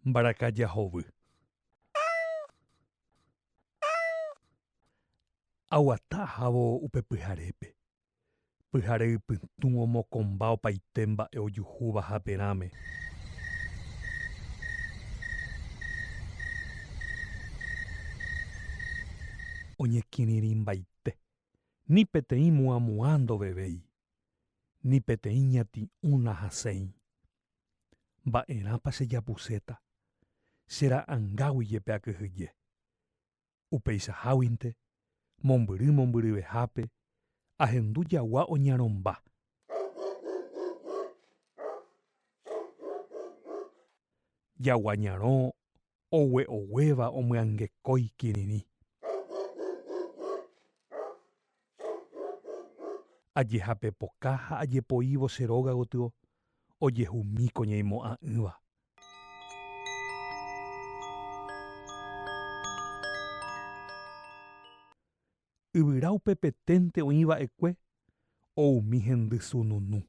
Mbarakaja hovy. Aguata ahávo upe pyharépe. Pyhare ypytũ omokomba opaite mba'e ojuhúva haperãme. Oñekirirĩmbaite. Ni peteĩ muãmuã ndovevéi. ni peteĩ ñati'ũ nahasẽi. Mba'erãpa chejapuséta, che ra'angágui jepe akyhyje. Upeichaháguinte, mombyry mombyryvehápe, ahendu jagua oñarõmba. Jagua ñarõ ogue'oguéva omyangekói kirirĩ. Ajehapepoka ha ajepoívo che róga gotyo ojehumi ko ñaimo'ã'ỹva. yvyra upepeténte oĩ va'ekue o umi hendy sununu.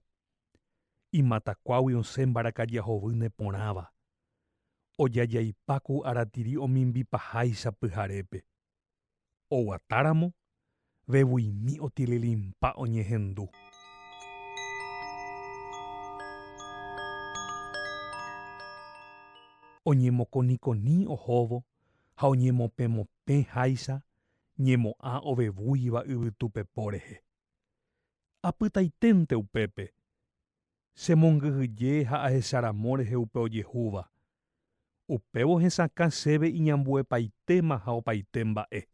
Imatakuágui osẽ mbarakaja hovy neporãva, ojajaipa ku aratiri omimbipaháicha pyharépe. Oguatáramo, vevuimi otililimpa oñehendu. Oñemokonikoni ohóvo ha oñemopẽmopẽ háicha ñemo'ã ovevúiva yvytu pepo rehe. Apytaiténte upépe, che mongyhyje ha ahecharamo rehe upe ojehúva, upévo hesakã chéve iñambuepaitéma ha opaite mba'e.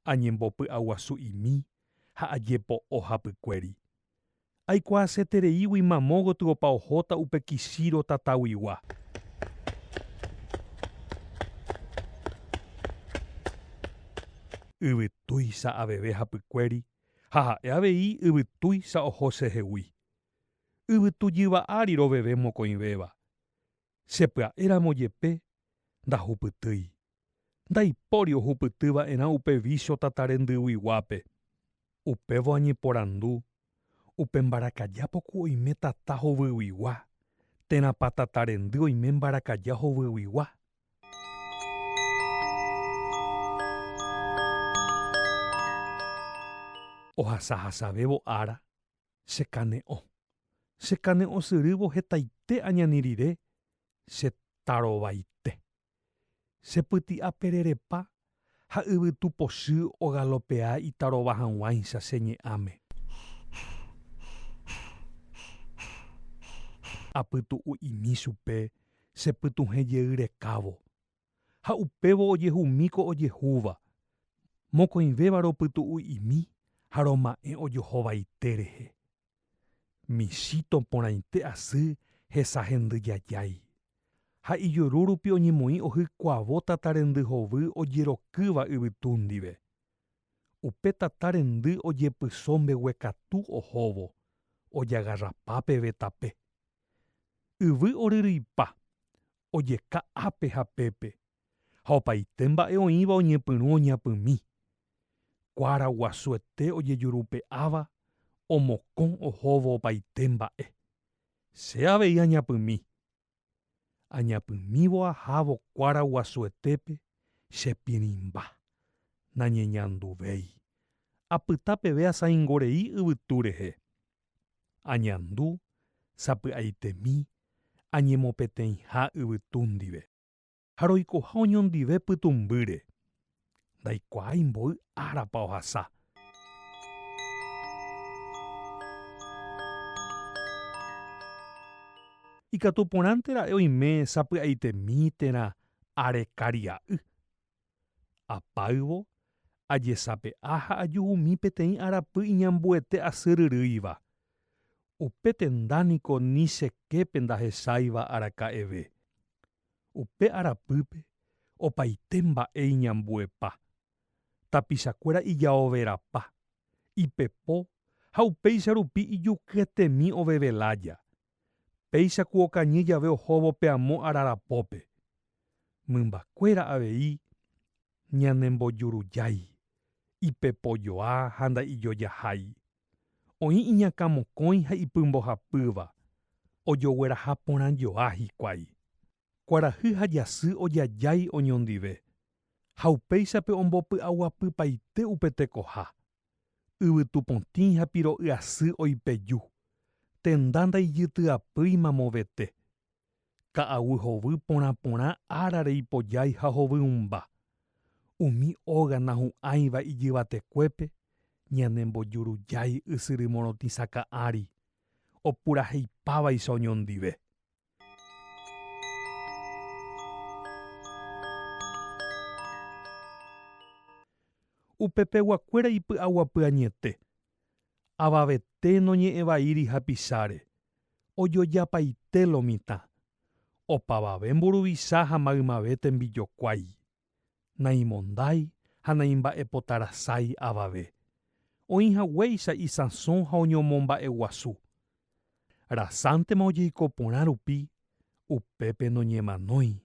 Añembopy'aguasu'imi ha ajepo'o hapykuéri, Aikuaasetereígui mamo gotyo opa ohóta upe Kishiro tataguigua. Yvy tuicha aveve hapykuéri ha ha'e avei yvy tuicha oho chehegui. Yvytujyva ári roveve mokõivéva. Che pya'e ramo jepe, ndahupytýi. Ndaipóri ohupyty va'erã upe vícho tata rendyguyguápe. Upévo añeporandu, Upe mbarakaja poku oime tata hovyguigua, térãpa tata rendy oime mbarakaja hovyguigua? Ohasahasavévo ára, chekane'õ. Chekane'õsyrývo hetaite añani rire che tarovaite. Chepyti'apererepa ha yvytu pochy ogalopea itarova hag̃uáicha che ñe'ãme. Apytu'u'imi chupe chepytuhẽjeyrekávo. ha upévo ojehumíko ojehúva, mokõivéva ropytu'u'imi ha roma'ẽ ojohovaite rehe. Michito porãite asy hesa hendy jajái, ha ijuru rupi oñemoĩ ohykuavo tata rendy hovy ojerokýva yvytu ndive. Upe tata rendy ojepyso mbeguekatu ohóvo, ojagarrapa peve tape. Yvy oryryipa, ojeka ápe ha pépe, ha opaite mba'e oĩva oñepyrũ oñapymi. Kuára guasuete ojejurupe'áva omokõ ohóvo opaite mba'e. Che avei añapymi. Añapymívo ahávo kuára guasuetépe che pirĩmba. Nañeñanduvéi. Apyta peve asaingo rei yvytu rehe. añandu, sapy'aitemi, añemopeteĩha yvytu ndive. Ha roikoha oñondive pytũmbýre, ndaikuaái mboy árapa ohasa. Ikatu porãnte ra'e oime sapy'aitemi térã arekaria'y. Apáyvo ajesape'a ha ajuhumi peteĩ arapy iñambuete asyryrýiva. Upe tenda niko ni che képe ndahecháiva araka'eve. Upe arapýpe opaite mba'e iñambuepa, tapichakuéra ijaoverapa, ipepo ha upéicha rupi ijukyetemi oveve lája, péicha ku okañy jave ohóvo pe amo ára rapópe. Mymbakuéra avei ñanembojurujái, ipepojoa ha ndaijojahái. Oĩ iñakãmokõi ha ipymbohapýva, ojogueraha porã joa hikuái. Kuarahy ha jasy ojajái oñondive, ha upéichape ombopy'aguapypaite upe tekoha. Yvytu potĩ ha piro'y asy oipeju, tenda ndaijytyapýima movete. Ka'aguy hovy porã porã árare ipojái ha hovyũmba. Umi óga nahu'ãiva ijyvatekuépe ñanembojurujái ysyry morotĩsaka'ãri, opuraheipávaicha oñondive. Upe peguakuéra ipy'aguapy añete, avavete noñe'ẽvaíri hapicháre, ojojapaite lo mitã, opavave mburuvicha ha maymave tembijokuái. naimondái ha naimba'epotarasái avave, oĩ haguéicha isãso ha oñomomba'eguasu. Rasántema ojeiko porã rupi, upépe noñemanói.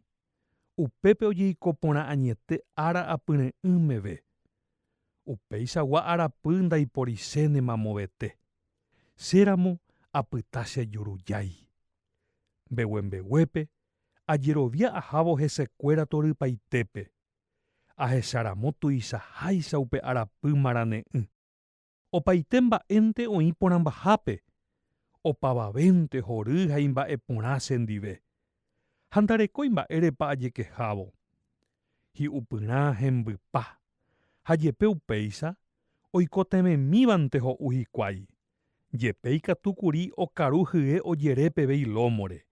Upépe ojeiko porã añete ára apyre'ỹ meve. Upéichagua arapy ndaiporichénema movete. Chéramo apyta che jurujái. Mbeguembeguépe ajerovia ahávo hesekuéra torypaitépe, ahecharamo tuichaháicha upe arapy marane'ỹ. Opaite mba'énte oĩ porãmbahápe, opavavénte hory ha imba'e porã chendive, ha ndarekói mba'érepa ajekehávo. Hi'upyrã hembypa, ha jepe upéicha, oikotevẽmívante ho'u hikuái, jepe ikatu kuri okaru hye ojere peve ilómore,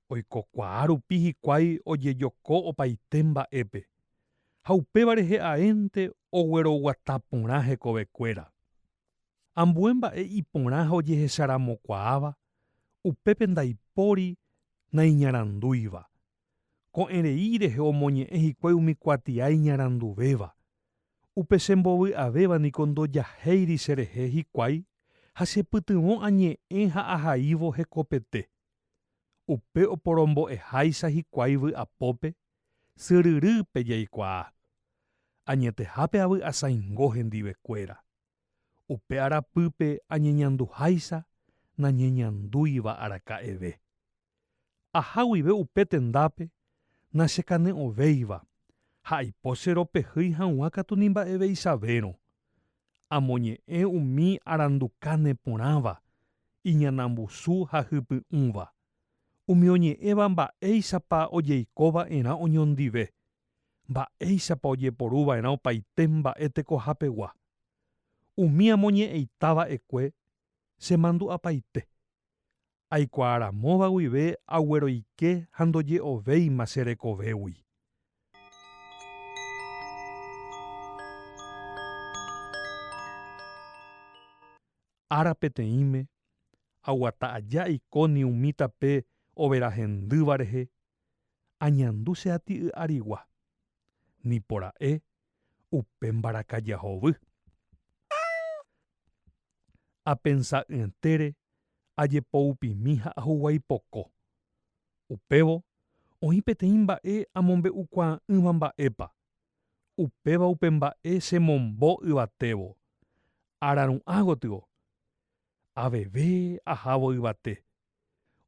Oikokuaa rupi hikuái ojejoko opaite mba'épe, ha upéva rehe aénte ogueroguata porã hekovekuéra. Ambue mba'e iporã ha ojehecharamokuaáva, upépe ndaipóri naiñarandúiva. Ko'ẽrei rehe omoñe'ẽ hikuái umi kuatia iñaranduvéva. Upe che mbovy avéva niko ndojahéiri che rehe hikuái ha chepytyvõ añe'ẽ ha ahaívo hekopete. Upe oporombo'eháicha hikuái vy'apópe, syryrýpe jaikuaa. Añetehápe avy'asaingo hendive kuéra. Upe arapýpe añeñanduháicha nañeñandúiva araka'eve. Aha guive upe tendápe nachekane'õvéiva ha aipo che ropehýi hag̃ua katu ni mba'eveichavérõ. Amoñe'ẽ umi arandukáne porãva, iñanambusu ha hypy'ũva, umi oñe'ẽva mba'éichapa ojeiko va'erã oñondive, mba'éichapa ojeporu va'erã opaite mba'e tekohapegua. Umi amoñe'ẽita va'ekue chemandu'apaite. aikuaaramóva guive agueroike ha ndoje'ovéima che rekovégui. Ára peteĩme, aguata aja Ikoni umi tape overa hendýva rehe, añandu che aty y'arigua, nipora'e upe mbarakaja hovy. apensa'ỹetére, ajepoupimi ha ahuguái poko. Upévo oĩ peteĩ mba'e amombe'ukuaa'ỹva mba'épa, upéva upe mba'e che mombo yvatévo, araru'ã gotyo, aveve ahávo yvate,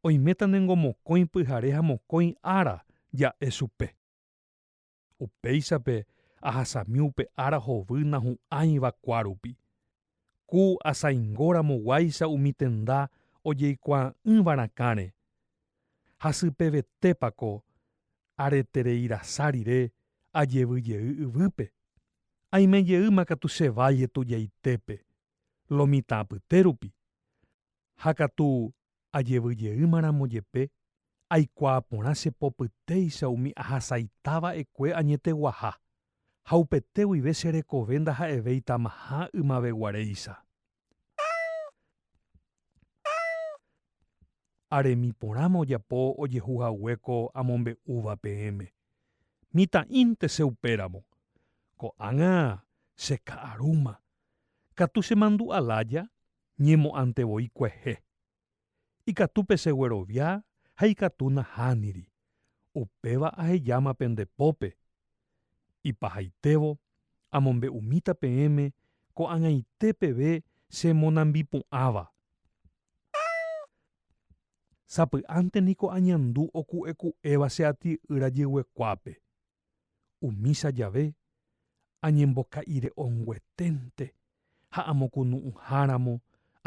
oiméta ne ngo mokõi pyhare ha mokõi ára ja'e chupe. Upéichape ahasami upe ára hovy nahu'ãiva kuárupi. Ku asaingóramo guáicha umi tenda ojeikuaa'ỹva rakãre. Hasypevetépa ko aretereirasa rire ajevy jey yvýpe. Aime jeýma katu che vai etudiaitépe, lo mitã apytérupi. ha katu ajevy jeýmaramo jepe, aikuaa porã che popytéicha umi ahasaita va'ekue añeteguaha, ha upete guive che rekove ndaha'evéitamaha ymaveguaréicha. Aremi porãma ojapo ojehu hague ko amombe'úva peẽme. Mitã'ínte che upéramo. Ko'ág̃a che ka'arúma. Katu chemandu'a lája ñemo'ãnte voi kuehe. Ikatu pecheguerovia ha ikatu nahániri, upéva ahejáma pende pópe. Ipahaitévo amombe'umíta peẽme ko'ag̃aite peve che monambipu'ãva. Sapy'ánte niko añandu oku'eku'éva che aty yrajeguekuápe. Umícha jave, añemboka'irey'ongueténte ha amokunu'ũháramo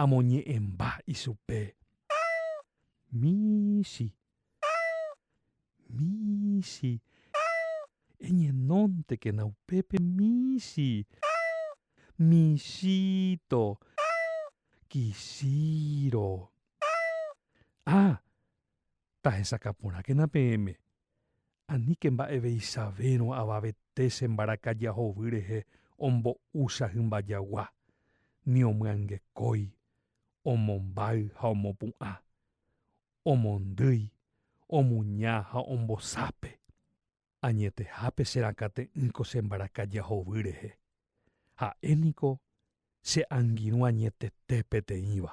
amoñe'ẽmba ichupe. Michĩ, michĩ, eñenóntekena upépe michĩ, michĩto, kichĩro. Ah, tahechakaporãkena peẽme, Aníke mba'eveichavérõ avavete che mbarakaja hovy rehe ombo'úcha hymba jagua, ni omyangekói, omombáy ha omopu'ã, omondýi, omuña ha ombosápe. Añetehápe che rakãte'ỹko che mbarakaja hovy rehe. Ha'e niko che angirũ añetete peteĩva.